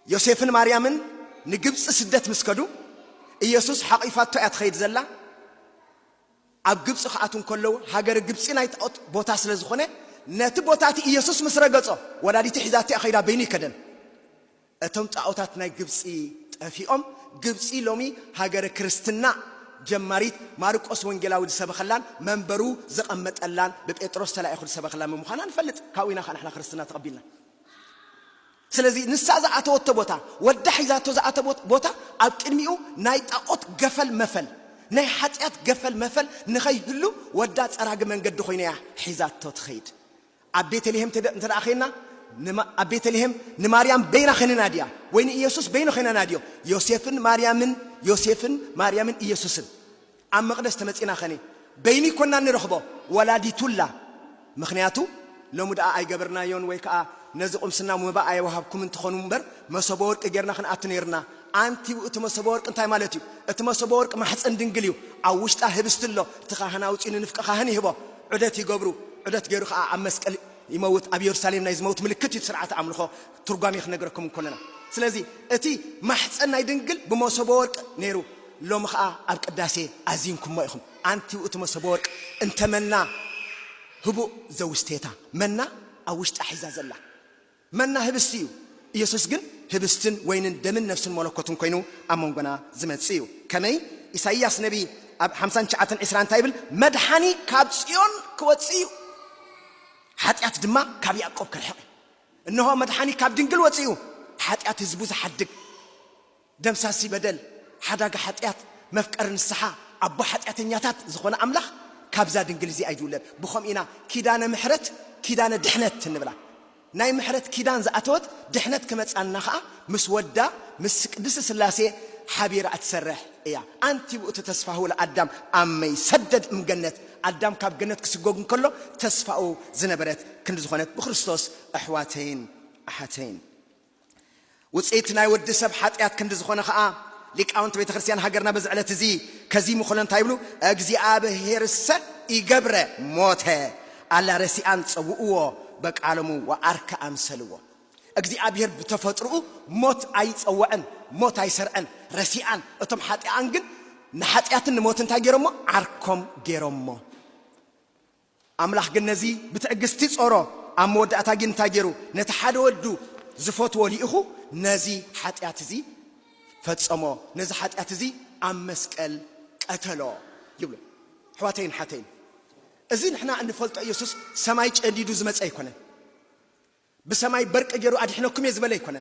ዮሴፍን ማርያምን ንግብፂ ስደት ምስ ከዱ ኢየሱስ ሓቚፋቶ እያ ትኸይድ ዘላ። ኣብ ግብፂ ክኣትዉ እንከለዉ ሃገር ግብፂ ናይ ጣዖት ቦታ ስለ ዝኾነ ነቲ ቦታ እቲ ኢየሱስ ምስ ረገጾ ወላዲቱ ሒዛቶ እያ ከይዳ በይኑ ይከደን። እቶም ጣዖታት ናይ ግብፂ ጠፊኦም ግብፂ ሎሚ ሃገረ ክርስትና ጀማሪት ማርቆስ ወንጌላዊ ዝሰበኸላን መንበሩ ዘቐመጠላን ብጴጥሮስ ተላኢኹ ዝሰበኸላን ምምዃና ንፈልጥ። ካብኡ ኢና ከኣ ንሕና ክርስትና ተቐቢልና። ስለዚ ንሳ ዝኣተወቶ ቦታ፣ ወዳ ሒዛቶ ዝኣተወት ቦታ፣ ኣብ ቅድሚኡ ናይ ጣኦት ገፈል መፈል፣ ናይ ሓጢኣት ገፈል መፈል ንኸይህሉ ወዳ ጸራጊ መንገዲ ኾይና እያ ሒዛቶ ትኸይድ። ኣብ ቤተልሄም እንተ ዄንና፣ ኣብ ቤተልሄም ንማርያም በይና ዄና ናድያ ወይ ንኢየሱስ በይኑ ዄና ናድዮ፣ ዮሴፍን ማርያምን ዮሴፍን ማርያምን ኢየሱስን ኣብ መቅደስ ተመጺና ከኒ በይኒ ኮና እንረኽቦ ወላዲቱላ ምኽንያቱ ሎሚ ድኣ ኣይገበርናዮን ወይ ከኣ ነዚ ቁምስና መባ ኣየወሃብኩምን ትኾኑ እምበር መሶበ ወርቂ ጌርና ክንኣቱ ኔርና ኣንቲ እቲ መሶበ ወርቂ እንታይ ማለት እዩ እቲ መሶበ ወርቂ ማሕጸን ድንግል እዩ ኣብ ውሽጣ ህብስቲ ኣሎ እቲ ካህን ኣውጺኡ ንንፍቀ ካህን ይህቦ ዑደት ይገብሩ ዑደት ጌሩ ከኣ ኣብ መስቀል ይመውት ኣብ የሩሳሌም ናይ ዝመውት ምልክት እዩ እቲ ስርዓተ ኣምልኾ ትርጓሜ ክንነግረኩም እንኮለና ስለዚ እቲ ማሕጸን ናይ ድንግል ብመሶበ ወርቅ ነይሩ ሎሚ ከኣ ኣብ ቅዳሴ ኣዚንኩሞ ኢኹም ኣንትዩ እቲ መሶበ ወርቅ እንተ መና ህቡእ ዘውስቴታ መና ኣብ ውሽጣ ሒዛ ዘላ መና ህብስቲ እዩ ኢየሱስ ግን ህብስትን ወይንን ደምን ነፍስን መለኮትን ኮይኑ ኣብ መንጎና ዝመጽእ እዩ ከመይ ኢሳይያስ ነቢ ኣብ ሓምሳን ትሽዓተን ዒስራ እንታይ ይብል መድሓኒ ካብ ጽዮን ክወጽእ እዩ ሓጢኣት ድማ ካብ ያእቆብ ክርሕቕ እዩ እንሆ መድሓኒ ካብ ድንግል ወፂኡ ሓጢኣት ህዝቡ ዝሓድግ ደምሳሲ በደል ሓዳጊ ሓጢኣት መፍቀሪ ንስሓ ኣቦ ሓጢኣተኛታት ዝኾነ ኣምላኽ ካብዛ ድንግል እዚኣ ይውለድ ብኸምኡ ኢና ኪዳነ ምሕረት ኪዳነ ድሕነት እንብላ ናይ ምሕረት ኪዳን ዝኣተወት ድሕነት ክመፃና ኸዓ ምስ ወዳ ምስ ቅድስት ስላሴ ሓቢራ እትሰርሕ እያ ኣንቲ ውእቱ ተስፋሁ ለኣዳም ኣመይ ሰደድ እምገነት ኣዳም ካብ ገነት ክስጎግ እንከሎ ተስፋኡ ዝነበረት ክንዲ ዝኾነት ብክርስቶስ ኣሕዋተይን ኣሓተይን ውጽኢት ናይ ወዲ ሰብ ሓጢኣት ክንዲ ዝኾነ ኸኣ ሊቃውንቲ ቤተ ክርስቲያን ሃገርና በዚ ዕለት እዚ ከዚሙ ከሎ እንታይ ይብሉ እግዚኣብሔርሰ ይገብረ ሞተ ኣላ ረሲኣን ጸውእዎ በቃሎሙ ወኣርከ ኣምሰልዎ እግዚኣብሄር ብተፈጥርኡ ሞት ኣይጸወዐን ሞት ኣይሰርዐን ረሲኣን እቶም ሓጥኣን ግን ንሓጢኣትን ንሞትን እንታይ ገሮሞ ዓርኮም ገሮሞ ኣምላኽ ግን ነዚ ብትዕግስቲ ጾሮ ኣብ መወዳእታ ግን እንታይ ገሩ ነቲ ሓደ ወዱ ዝፈትዎ ሊኢኹ ነዚ ሓጢኣት እዚ ፈጸሞ ነዚ ሓጢኣት እዚ ኣብ መስቀል ቀተሎ ይብሉ ኣሕዋተይን ሓተይን እዚ ንሕና እንፈልጦ ኢየሱስ ሰማይ ጨንዲዱ ዝመጸ ኣይኮነን። ብሰማይ በርቂ ጌሩ ኣድሒነኩም እየ ዝበለ ኣይኮነን።